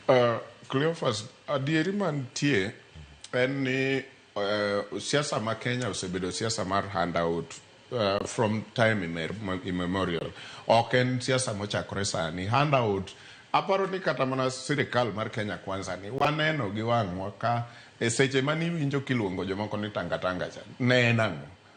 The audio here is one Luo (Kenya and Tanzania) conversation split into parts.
Uh, Cleophas, adieri mantie en ni uh, siasa ma Kenya osebedo siasa mar handout uh, from time immemorial. Ok en siasa mochakore sani. Handout aparo ni kata mana sirikal mar Kenya kwanza ni waneno gi wang'wa ka e seche mane iwinjo kiluongo jomoko ni tangatanga cha ne en ang'o?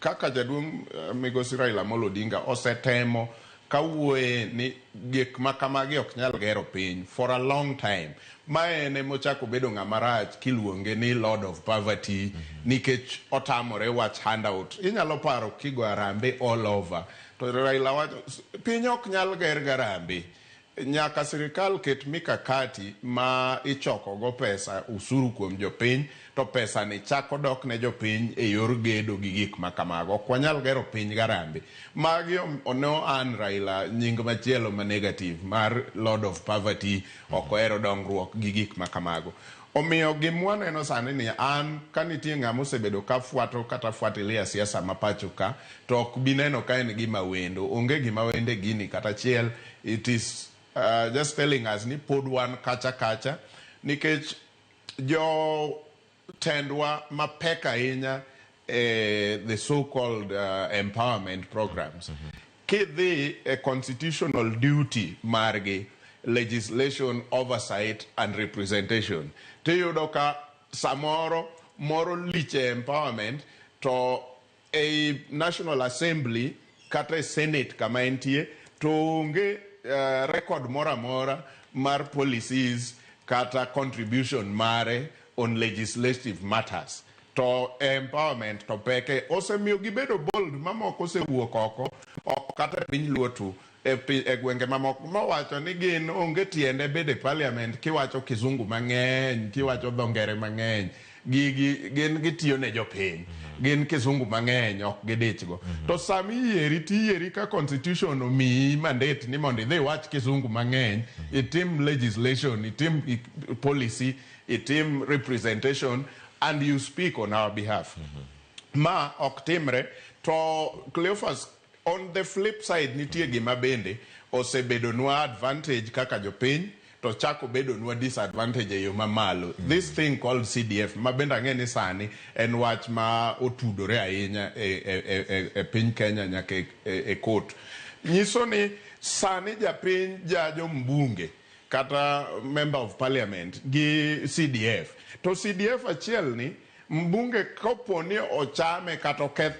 Kaka jaduong' migosi Raila Amolo Odinga osetemo kawuoye ni gik makamagi ok nyal gero piny for a long time. Ma en emochako bedo ng'ama rach kiluonge ni Lord of Poverty nikech otamore wach handout. Inyalo paro kigo arambe all over to Raila wacho piny ok nyal ger garambe. Nyaka sirikal ket mikakati ma ichoko go pesa usuru kuom jopiny to pesani chako dok ne jopiny e yor gedo gi gik ma kamago. Ok wanyal gero piny gi arambe. Magi ne o earn Raila nying machielo ma negative mar Lord of Poverty, ok ohero dongruok gi gik ma kamago. Omiyo gima waneno sani ni an ka nitie ng'ama osebedo ka fwato kata fuatilia siasa ma pacho ka to ok bi neno ka en gima wendo. Onge gima wendo e gini kata achiel. It is uh, just telling us ni pod wan kacha kacha nikech jotendwa mapek ahinya eh, the so called uh, empowerment programs mm -hmm. kidhi a constitutional duty margi legislation oversight and representation tiyudo ka samoro moro liche empowerment to Ei National Assembly kata e Senate kama entie to onge uh, record moro amora mar policies kata contribution mare on legislative matters to empowerment to peke osemiyo gibedo bold mamoko osewuok oko kata piny luo tu e gwenge mamoko mowacho ni gin onge tiende bedo e parliament kiwacho kizungu mang'eny kiwacho dho ngere mang'eny gigi gin gitiyo ne jopiny mhm. gin kizungu mang'eny ok gidichgo mhm. to sami yieri tiyieri ka constitution omiyi mandate ni mondo idhi iwach kizungu mang'eny mhm. itim legislation itim policy itim representation and you speak on our behalf ma ok timre to Cleophas On the flip side nitie gima bende osebedonwa advantage kaka jopiny to chako bedonwa disadvantage eyo mamalo. This thing called CDF ma bende ang'e ni sani en wach ma otudore ahinya e, e, e, e, e piny Kenya nyaka e, e, e court. Nyiso ni sani japiny jajo mbunge kata member of parliament gi CDF. To CDF achiel ni Mbunge kopo ni ochame kata oketh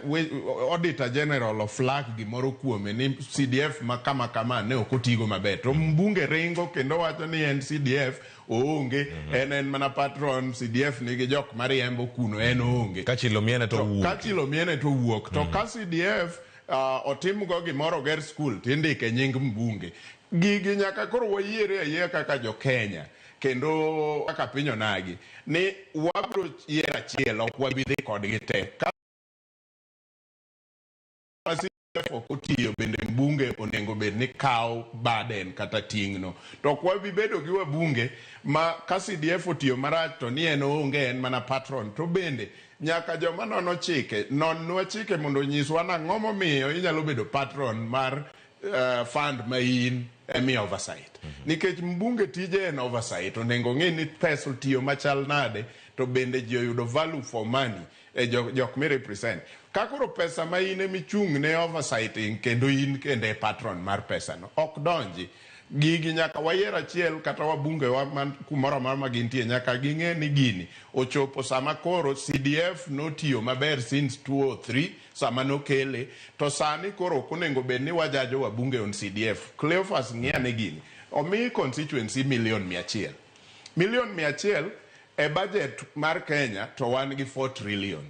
Auditor General of flag gimoro kuome ni CDF ma kama kama ne ok otigo maber to mbunge ringo kendo wacho ni en CDF oonge mm -hmm. en en mana patron CDF nigi jok mariembo kuno en oonge kachilo miene to wuok kachilo miene to wuok to mm -hmm. ka CDF uh, ah, otimgo gimoro oger skul to indike nying mbunge gigi nyaka koro wayiere ayiera kaka jo Kenya kendo kaka piny onagi ni wabiro yiero achiel ok wabi dhi kodgi te ka ok otiyo bende mbunge onego bed ni kawo baden kata ting'no to ok wabi bedo gi wabunge ma ka CDF otiyo marach to ni en onge en mana patron to bende nyaka joma nono chike nonwa chike mondo onyiswa nang'o momiyo inyalo bedo patron mar uh, fund ma in emi oversight mm -hmm. nikech mbunge tije en oversight onego ong'e ni pesa otiyo machal nade to bende ji oyudo value for money e jok, jok mi represent ka koro pesa ma in emi chung' ne oversight in kendo in kendo e patron mar pesa no ok donji gigi nyaka wayier achiel kata wabunge wa man kumoro amora ma gintie nyaka ging'e ni gini ochopo sama koro CDF notiyo maber since 203 sama nokele to sani koro ok onengo bed ni wajajo wabunge on CDF. Cleophas ng'i ane gini. Omi constituency million mia achiel. Million mia achiel e budget mar Kenya to wan gi 4 trillion.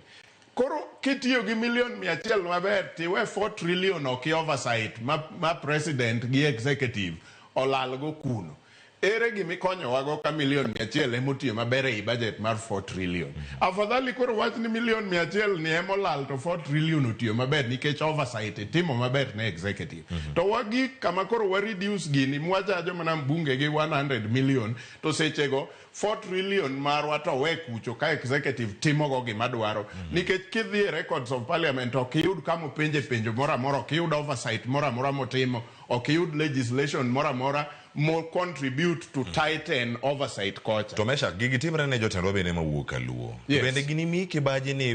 Koro kitiyo gi million mia achiel maber tiwe 4 trillion oki oversight ma, ma president gi executive olalgo kuno. Ere gima ikonyowago ka milion mia achiel ema otiyo maber ei bajet mar four trillion? Afadhali koro owach ni milion mia achiel ni ema olal to four trillion otiyo maber nikech oversight itimo maber ne executive. To wagik kama koro wa reduce gini mwachajo mana mbunge gi one hundred million to sechego four trillion marwa to owe kucho ka executive timogo gima dwaro. Nikech kidhi e records of parliament ok iyud kama openje penjo moro amora, ok iyud oversight moro amora motimo. Ok iyud legislation moro amora mo contribute to tighten oversight kocha. To Meshak, gigi timre ne jotendwa bende mawuok kaluo. Yes. Bende ginimi kibaji ni